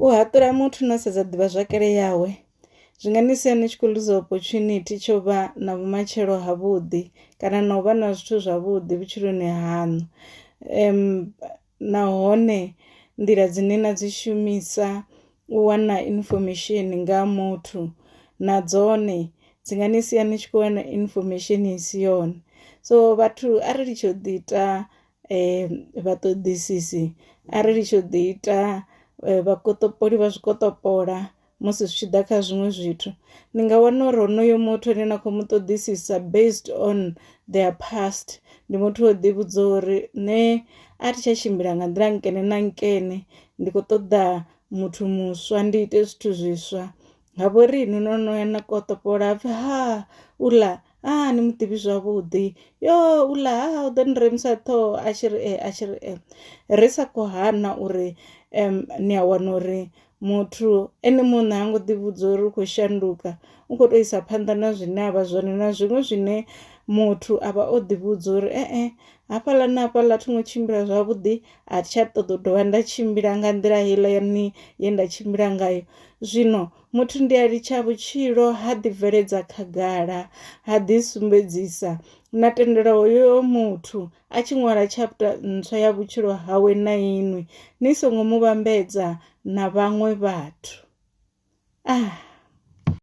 U haṱula muthu no sedza ḓivhazwakale yawe zwi nga ni sia ni tshi khou luza opportunity tsho vha na vhumatshelo ha vhuḓi kana na u vha na zwithu zwavhuḓi vhutshiloni haṋu um nahone nḓila dzine na dzi shumisa u wana information nga muthu na dzone dzi nga ni sia ni tshi khou wana information i si yone so vhathu a ri litshe u ḓi ita um vhaṱoḓisisi a ri litshe u ḓi ita um vhakotopoli vha zwikotopola musi zwi tshi ḓa kha zwiṅwe zwithu ni nga wana uri honoyo muthu ane na khou mu ṱoḓisisa based on their past ndi muthu o ḓi vhudza uri nṋe a thi tsha tshimbila nga nḓila nkene na nkene ndi kho ṱoḓa muthu muswa ndi ite zwithu zwiswa ha vhoriṋe no no ya na kotopola hapfi ha u ḽa a ah, ni mu tivi zwavhuḓi yo u ḽa ha u ḓo ni remisa ṱhoho a tshi ri e a tshi ri e ri sa khou hana uri um ni a wana uri muthu ene muṋe ha ngo ḓivhudza uri u khou shanduka u khou tou isa phanḓa na zwine a vha zwone na zwiṅwe zwine muthu a vha o ḓivhudza uri e-e hafhaḽa na hafhaḽa thi ngo tshimbila zwavhuḓi a thi tsha ṱoḓa u dovha nda tshimbila nga nḓila heiḽa yani ye nda tshimbila ngayo zwino Muthu ndi a litsha vhutshilo, ha ḓibveledza khagala, ha ḓisumbedzisa, na tendela hoyo muthu a tshi ṅwala tshapta ntswa ya vhutshilo hawe na inwi, ni songo mu vhambedza na vhaṅwe vhathu. Ah!